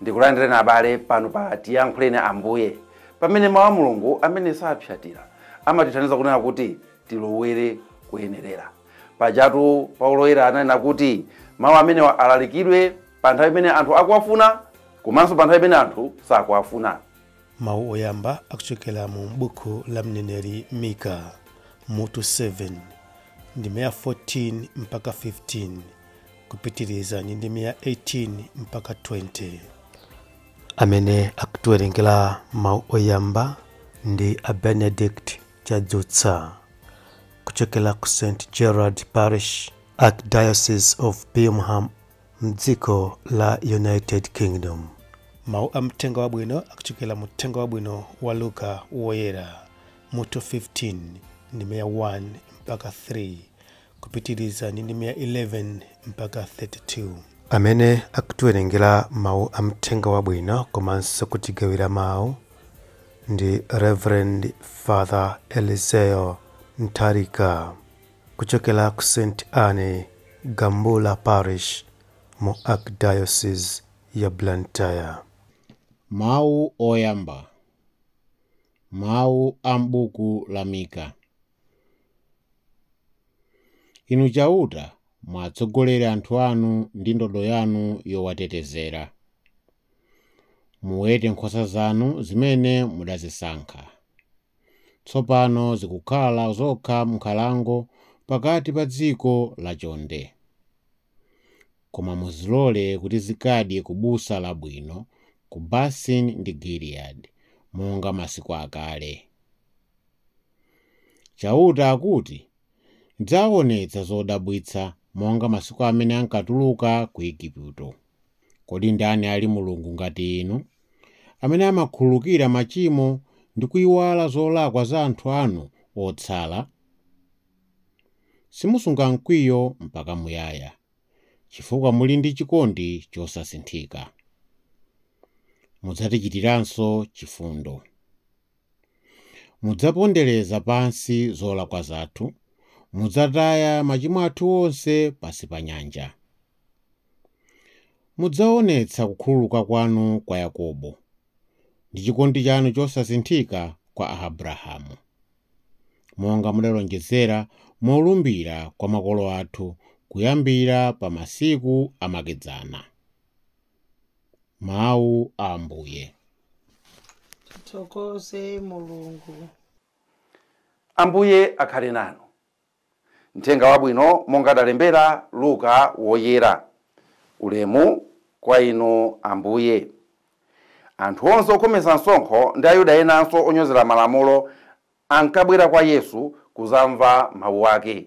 Ndikulandireni abale pano pa Tiyankhuleni Ambuye, pamene Mawu a Mulungu amene sapsyatira amatithandiza kunena kuti tilowere kuyenerera. Pajatu Paulo Woyera ananena kuti mawu amenewa alalikidwe pa nthawi imene anthu akuwafuna komanso pa nthawi imene anthu sakuwafuna. Mawu oyamba akuchokera mu buku la mneneri Mika mutu 7 ndime ya 14 mpaka 15 kupitiriza ndi ndime ya 18 mpaka 20. Amene akutiwerengera mawu oyamba ndi a Benedict Chadzutsa kuchokera ku St Gerard Parish, Archdiocese of Birmingham m'dziko la United Kingdom. Mawu a Mthenga Wabwino akuchokera mu Mthenga Wabwino wa Luka Woyera, mutu 15 ndime ya 1 mpaka 3, kupitiriza ndi ndime ya 11 mpaka 32. Amene akutiwerengera mawu a Mthenga Wabwino komanso kutigawira mawu ndi Reverend Father Eliseo Ntalika. Kuchokera ku St Anne, Gambula Parish mu Archdiocese ya Blantyre. Mawu oyamba, mawu a m'buku la Mika. Inu Chauta, muwatsogolere anthu anu ndi ndodo yanu yowatetezera. Muwete nkhosa zanu zimene mudazisankha. tsopano zikukhala zokha m'nkhalango pakati pa dziko lachonde. Koma muzilole kuti zikadye ku busa labwino ku Basani ndi Giliyadi, monga masiku akale. Chauta akuti, Ndidzawaonetsa zodabwitsa monga masiku amene ankatuluka ku Ejipito. Kodi ndani ali Mulungu ngati inu, amene amakhululukira machimo ndi kuiwala zolakwa za anthu anu otsala? Simusunga mkwiyo mpaka muyaya, chifukwa muli ndi chikondi chosasinthika. Mudzatichitiranso chifundo. Mudzapondereza pansi zolakwa zathu, Mudzataya machimo athu onse pansi pa nyanja. Mudzaonetsa kukhululuka kwanu kwa Yakobo, Ndi chikondi chanu chosasinthika kwa Abrahamu. Monga mudalonjezera molumbira kwa makolo athu, Kuyambira pa masiku amakedzana. Mawu a Ambuye. Tithokoze Mulungu. Ambuye akhale nanu. Mthenga Wabwino monga adalembera Luka Woyera. Ulemu kwa Inu Ambuye. Anthu onse okhometsa msonkho ndi Ayuda enanso onyozera malamulo ankabwera kwa Yesu kuzamva mawu ake.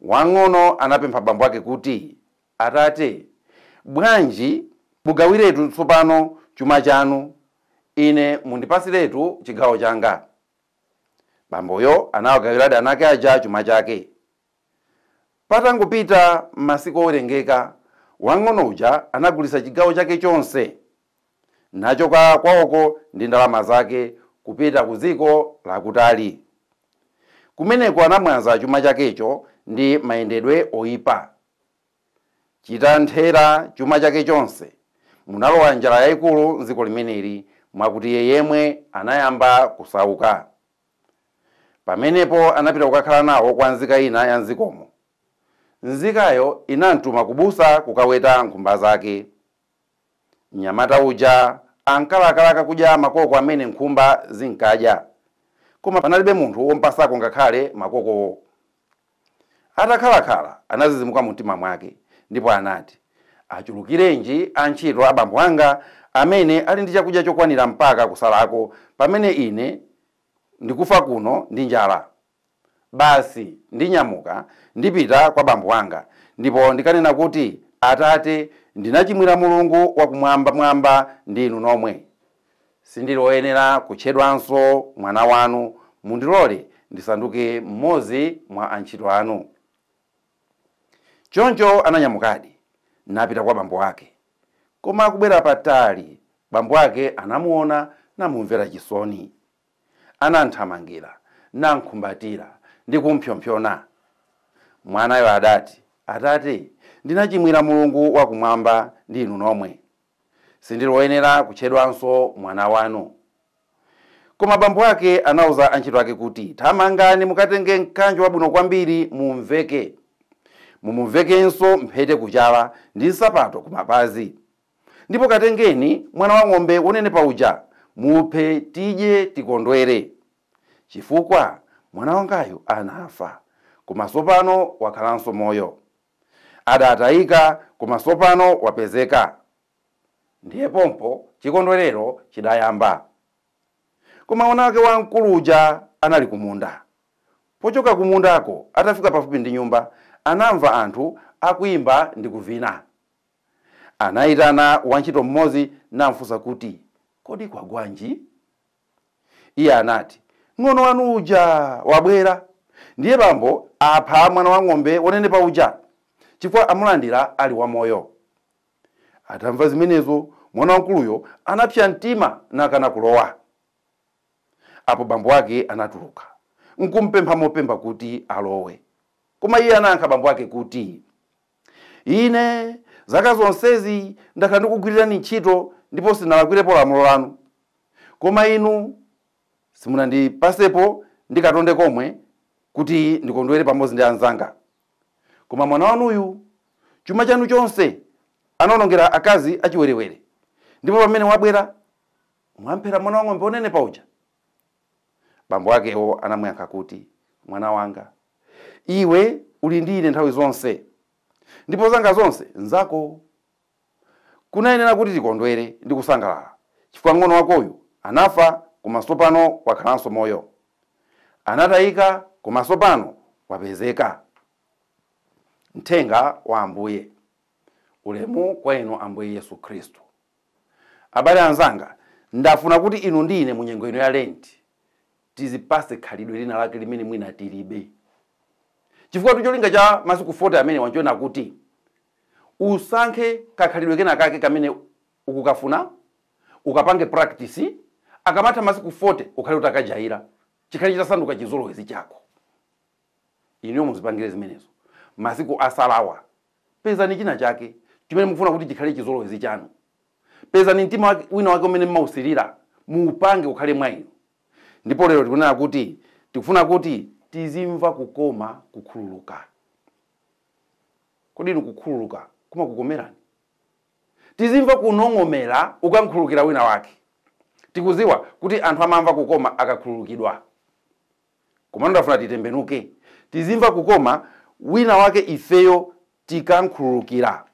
Wang'ono anapempha bambo ake kuti, Atate, bwanji mugawiretu tsopano chuma chanu, ine mundipatsiretu chigawo changa. Bamboyo anawagawiradi ana ake aja chuma chake. Patangopita masiku owerengeka, wang'ono uja anagulitsa chigawo chake chonse. nachoka kwawoko ndi ndalama zake kupita ku dziko lakutali. Kumeneko anamwaza chuma chakecho ndi mayendedwe oipa. Chitamthera chuma chake chonse, munalowa njala yaikulu m'dziko limeneli, mwakuti iye yemwe anayamba kusauka. Pamenepo anapita kukakhala nawo kwa nzika ina ya m'dzikomo. Nzikayo inamtuma kubusa kukaweta nkhumba zake. Mnyamata uja ankalakalaka kudya makoko amene nkhumba zinkadya, koma panalibe munthu wom'pasako ngakhale makokowo. Atakhalakhala, anazizimuka mumtima mwake, ndipo anati, Achulukirenji antchito a bambo anga amene ali ndi chakudya chokwanira mpaka kusalako, pamene ine ndikufa kuno ndi njala? Basi, ndinyamuka, ndipita kwa bambo anga, ndipo ndikanena kuti, Atate, ndinachimwira Mulungu wa Kumwambamwamba ndi inu nomwe. Sindili woyenera kutchedwanso mwana wanu. Mundilole ndisanduke mmodzi mwa antchito anu. Choncho ananyamukadi, napita kwa bambo ake. Koma akubwera patali, bambo ake anamuona namumvera chisoni. anam'thamangira, nam'khumbatira, ndi kum'mpsompsona. Mwanayo adati, Atate, ndinachimwira Mulungu wa Kumwamba ndi inu nomwe. Sindili woyenera kutchedwanso mwana wanu. Koma bambo ake anauza antchito ake kuti, Thamangani mukatenge mkanjo wabwino kwambiri mum'veke. Mumumvekenso mphete kuchala ndi nsapato kumapazi. Ndipo katengeni mwana wa ng'ombe wonenepa uja, muphe tidye tikondwere, chifukwa mwana wangayu anafa, koma tsopano wakhalanso moyo, adatayika, koma tsopano wapezeka. Ndiye pompo chikondwerero chidayamba. Koma mwana wake wamkulu uja anali ku munda. Pochoka ku mundako, atafika pafupi ndi nyumba, anamva anthu akuimba ndi kuvina. Anaitana wantchito mmodzi namfunsa kuti, Kodi kwagwanji? Iye anati, Mng'ono wanu uja wabwera. Ndiye bambo apha mwana wa ng'ombe wonenepa uja, chifukwa amulandira ali wamoyo. Atamva zimenezo, mwana wamkuluyo anapsa mtima nakana kulowa. Apo bambo ake anatuluka, n'kum'pempha mopemba kuti alowe. Koma iye anayankha bambo ake kuti. Ine zaka zonsezi ndakhala ndikugwirirani ntchito ndipo sinalakwirepo lamulo lanu, koma inu simunandipatsepo ndi katonde komwe kuti ndikondwere pamodzi ndi anzanga. Koma mwana wanuyu, chuma chanu chonse anawonongera akazi achiwerewere, ndipo pamene wabwera, mwamphera mwana wa ng'ombe wonenepa uja. Bambo akewo anamuyankha kuti, Mwana wanga, iwe uli ndi ine nthawi zonse, ndipo zanga zonse n'zako. Kunayenera kuti tikondwere ndi kusangalala chifukwa mng'ono wakoyu anafa koma tsopano wakhalanso moyo. Anatayika koma tsopano wapezeka. Mthenga wa Ambuye. Ulemu kwa inu Ambuye Yesu Khristu. Abale anzanga, ndafuna kuti inu ndi ine mu nyengo ino ya Lent tizipatse khalidwe lina lake limene mwina tilibe. Chifukwatu cholinga cha masiku 40 amenewa n'chonena kuti usankhe kakhalidwe kenakake kamene ukukafuna, ukapange practice, akamatha masiku 40 ukhale utakajaira, chikhale chitasanduka chizolowezi chako. inuyo muzipangire zimenezo masiku asalawa pezani china chake chimene mukufuna kuti chikhale chizolowezi chanu pezani mtima wina wake umene mmausirira muupange ukhale mwa inu ndipo lero tikunena kuti tikufuna kuti tizimva kukoma kukhululuka kodi inu kukhululuka kumakukomerani tizimva kunong'omera ukankhululukira wina wake tikuziwa kuti anthu amamva kukoma akakhululukidwa Komano ndafuna titembenuke. Tizimva kukoma wina wake ifeyo tikankhululukira.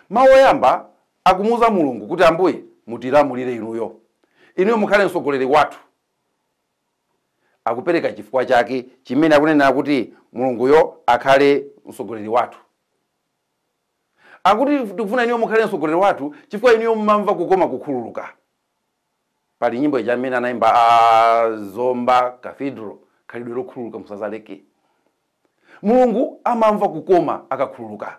Mau oyamba akumuuza Mulungu kuti Ambuye mutilamulire inuyo. Inuyo mukhale mtsogoleri wathu. Akupereka chifukwa chake chimene akunenera kuti Mulunguyo akhale mtsogoleri wathu. Akuti tikufuna inuyo mukhale mtsogoleri wathu chifukwa inuyo mumamva kukoma kukhululuka. Pali nyimbo ija imene anaimba a Zomba Cathedral, khalidwe lokhululuka musazaleke. Mulungu amamva kukoma akakhululuka.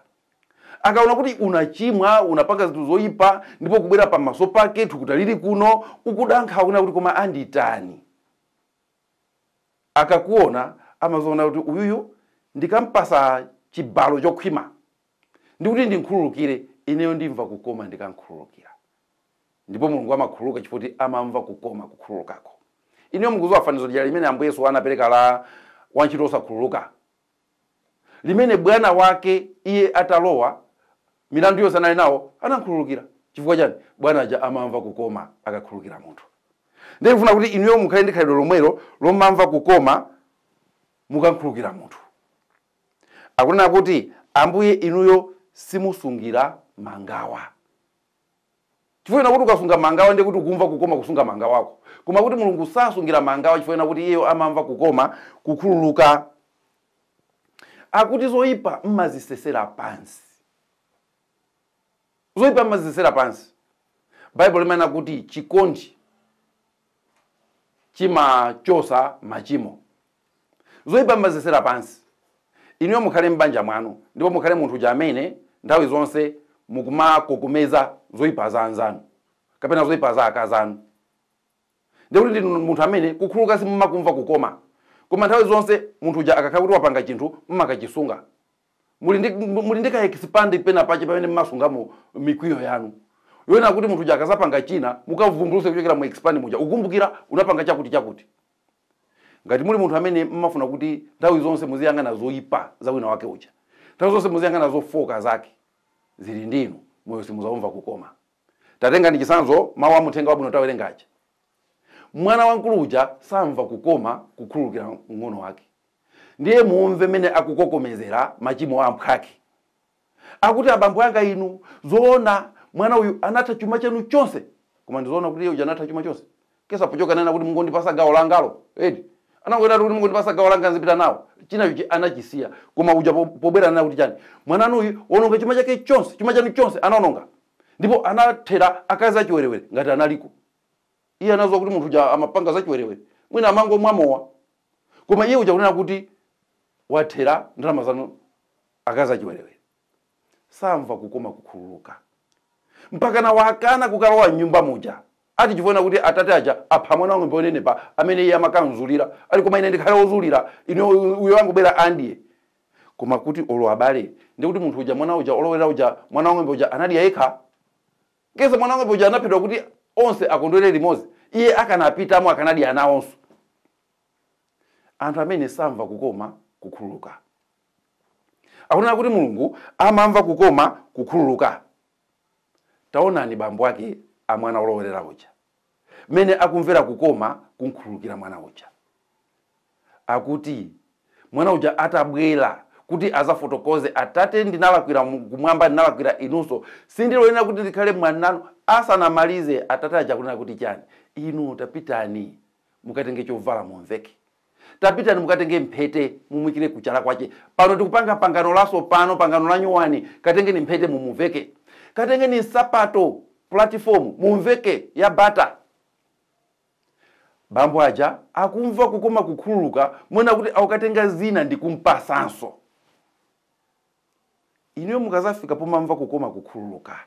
Akaona kuti unachimwa, unapanga zinthu zoipa ndipo kubwera pamaso pake thukuta lili kuno, ukuda nkhawa kunena kuti koma anditani? Akakuona amaziona kuti uyuyu ndikampasa chibalo chokhwima ndi kuti ndimkhululukire, ineyo ndimva kukoma ndikamkhululukira. Ndipo Mulungu amakhululuka chifukwa choti amamva kukoma kukhululukako. Inuyo mukudziwa fanizo lija limene Ambuye Yesu anapereka la wantchito wosakhululuka? Limene bwana wake iye atalowa, milandu yonse anali nawo anamkhululukira. Chifukwa chani? Bwana aja amamva kukoma akakhululukira munthu. Ndiye ndikufuna kuti inuyo mukhale ndi khalidwe lomwelo lomamva kukoma mukamkhululukira munthu. Akunena kuti, Ambuye, inuyo simusungira mangawa. Chifukwa chonena kuti ukasunga mangawa ndiye kuti ukumva kukoma kusunga mangawako. Koma kuti Mulungu sasungira mangawa chifukwa chonena kuti iyeyo amamva kukoma kukhululuka. Akuti zoipa mmazisesera pansi. Zoipa mmazisesera pansi. Baibulo limanena kuti chikondi chimachosa machimo. Zoipa mumazisesera pansi. Inuyo mukhale m'banja mwanu ndipo mukhale munthu uja amene nthawi zonse mukumakokomeza zoipa za anzanu kapena zoipa za akazi anu. Ndiye kuti ndinu munthu amene kukhululuka simumakumva kukoma. Koma nthawi zonse munthu uja akakhala kuti wapanga chinthu mumakachisunga. muli ndi muli ndi ka expand pena pache pamene mmasungamo mikwiyo yanu yonena kuti munthu uja akazapanga china mukavumbuluse kuchokera mu expand muja ukumbukira unapanga chakuti chakuti ngati muli munthu amene mmafuna kuti nthawi zonse muziyang'ana zoyipa za wina wake uja nthawi zonse muziyang'ana zofoka zake zili ndinu moyo simuzaumva kukoma tatengani chisanzo mawu a mu uthenga wabwino tawerenga aja mwana wamkulu uja samva kukoma kukhululukira mng'ono wake Ndiye mumve mene akukokomezera machimo a mphwake. Akuti abambo anga inu, zoona mwana uyu anatha chuma chanu chonse? Koma ndi zoona kuti iye uja anatha chuma chonse? Kesa pochoka anena kuti mungondipasa gawo langalo, eti? Anangonenatu kuti mungondipasa gawo langa nzipita nawo. Chinacho chi anachisiya. Koma uja po pobwera anena kuti chani? Mwana wanu uyu waononga chuma chake chonse, chuma chanu chonse anaononga. Ndipo anathera akazi achiwerewere ngati analiko. Iye anaziwa kuti munthu uja amapanga zachiwerewere. Mwina amangomwa mowa. koma iye uja kunena kuti wathera ndalama zanu akazi achiwerewere samva kukoma kukhululuka mpakana wakana kukalowa mnyumba muja ati chifukwa chonena kuti atate aja apha mwana wang'ombe onenepa amene iye amakamzulira ali koma ine ndikhale ozulira ine uyo wangobwera amdye koma kuti olo abale ndikuti munthu uja mwana uja olowera uja mwana wang'ombe uja anadya yekha Kesa mwana wang'ombe uja anaphedwa kuti onse akondwere limodzi. Iye akanapitamo akanadya nawonso. Anthu amene samva kukoma kukhululuka. Akunena kuti Mulungu amamva kukoma kukhululuka. Taonani bambo ake a mwana wolowerera uja. mmene akumvera kukoma kumkhululukira mwana uja. Akuti mwana uja atabwera kuti azafotokoze, atate, ndinalakwira kumwamba, ndinalakwira inunso, sindili oyenera kuti ndikhale mwana wanu. Asanamalize atate aja kunena kuti chani, inu tapitani mukatenge chovala mumveke, Tapitani mukatenge mphete mumuikire kuchala kwache. Pano tikupanga pangano lasopano, pangano lanyuwani. Katengeni mphete mumuveke. Katengeni nsapato, pulatifomu, mumveke, ya bata. Bambo aja akumva kukoma kukhululuka mwakuti akukatenga zina ndikumpasanso. Inuyo mukazafika pomamva kukoma kukhululuka,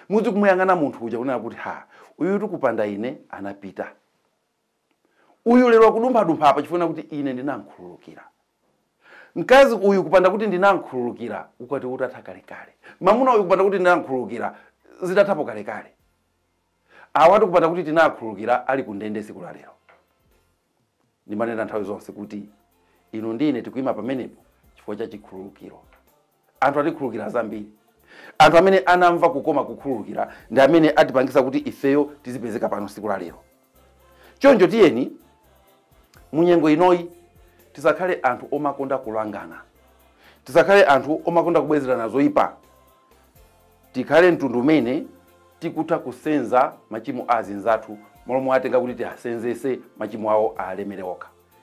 muzikamuyang'ana munthu uja kunena kuti, Ha, uyutu kupanda ine anapita. uyu lero akudumphadumpha apa chifukwa kuti ine ndinamkhululukira mkazi uyu kupanda kuti ndinamkhululukira ukwati utatha kalekale mamuna uyu kupanda kuti ndinamkhululukira zitathapo kalekale awatu kupanda kuti tinakhululukira ali kundende siku la lero ndimanena nthawi zonse kuti inu ndi ine tikuima pamenepo chifukwa cha chikhululukiro Anthu atikhululukira zambiri. Anthu amene anamva kukoma kukhululukira ndi amene atipangisa kuti ifeyo tizipezeka pano siku la lero. Choncho tiyeni munyengo inoyi tisakhale anthu omakonda kulangana. Tisakhale anthu omakonda kubwezerana zoipa. Tikhale mtundu umene tikutha kusenza machimo a azinzathu malo mowatenga kuti tiasenzese machimo awo aalemere okha.